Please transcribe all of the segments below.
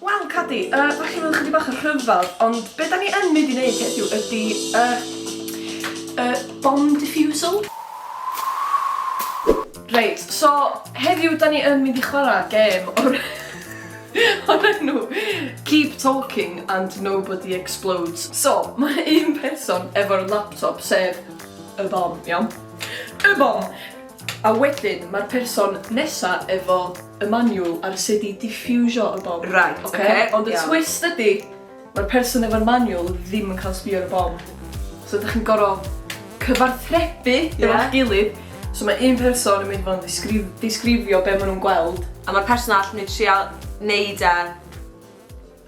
Wel Cadi, yy dach chi'n meddwl chydig bach o rhyfel, ond be' 'dan ni yn mynd i neud heddiw ydi y y bomb diffusal. Reit, so heddiw 'dan ni yn mynd i chwara' gêm o'r o'r enw Keep Talking and Nobody Explodes. So, ma' un person efo'r laptop, sef y bom, iawn? Y bom! A wedyn ma'r person nesa efo y maniwl ar sut i diffiwsio y bom. Reit, ocê. Ocê, ond y twist ydi, mae'r person efo'r maniwl ddim yn cael sbio ar y bom. So dych chi'n gor'o' cyfarthrebu efo'ch gilydd, so mae un person yn mynd i fod yn ddisgrif- disgrifio be' ma' nhw'n gweld, a ma'r person arall yn mynd i trial neud e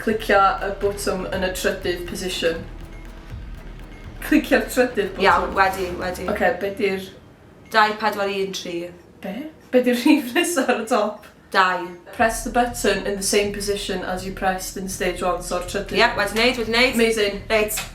Clicia y botwm yn y trydydd position. Clicia'r trydydd botwm. Iawn, wedi, wedi. Oce, be di'r... 2, 4, 1, 3. Be? Be di'r rhif nesa ar y top? 2. Press the button in the same position as you pressed in stage one, so'r trydydd... Ie, wedi neud, wedi neud. Amazing. Reit.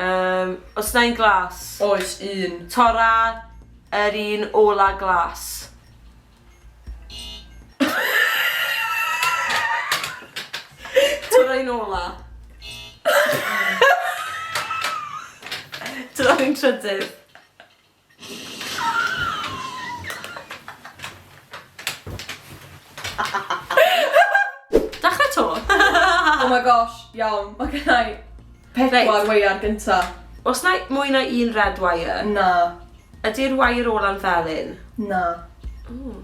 Yym, os na un glas. Oes, un. Tora yr un ola glas. Tora un ola. Tora un trydydd. Dachre to. oh my gosh, iawn. Mae gen i pedwar weiar gynta. Os na mwy na un red wire? Na. Ydy'r wire ola'n felyn? Na. Ooh.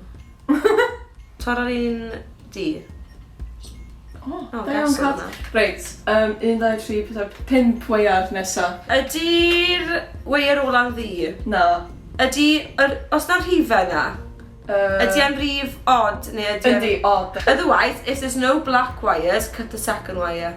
Tor ar un du. O, da iawn Cat. O, ges i hwnna. Reit, yym, un, dau, tri, pedwar, pump waear nesa. Ydi'r waear ola'n ddu? Na. Ydi, yr, os na rhife yna, Yy... ydi e'n rif odd neu ydi e'n... Yndi, odd. Otherwise, if there's no black wires, cut the second wire.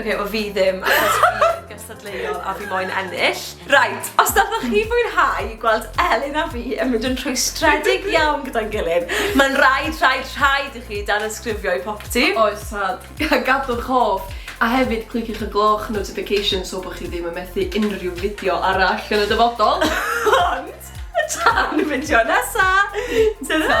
Ok, wel fi ddim, achos fi yn gystadleuol a fi moyn ennill. Right, os dathoch chi fwynhau gweld Elin a fi yn mynd yn rhwystredig iawn gyda'n gilydd, mae'n rhaid, rhaid, rhaid i chi dan ysgrifio i popty. Oes, sad. Gadwch hoff, a hefyd cliciwch y gloch notification so bod chi ddim yn methu unrhyw fideo arall yn y dyfodol. Ond, tan y fideo nesa! Ta-ra!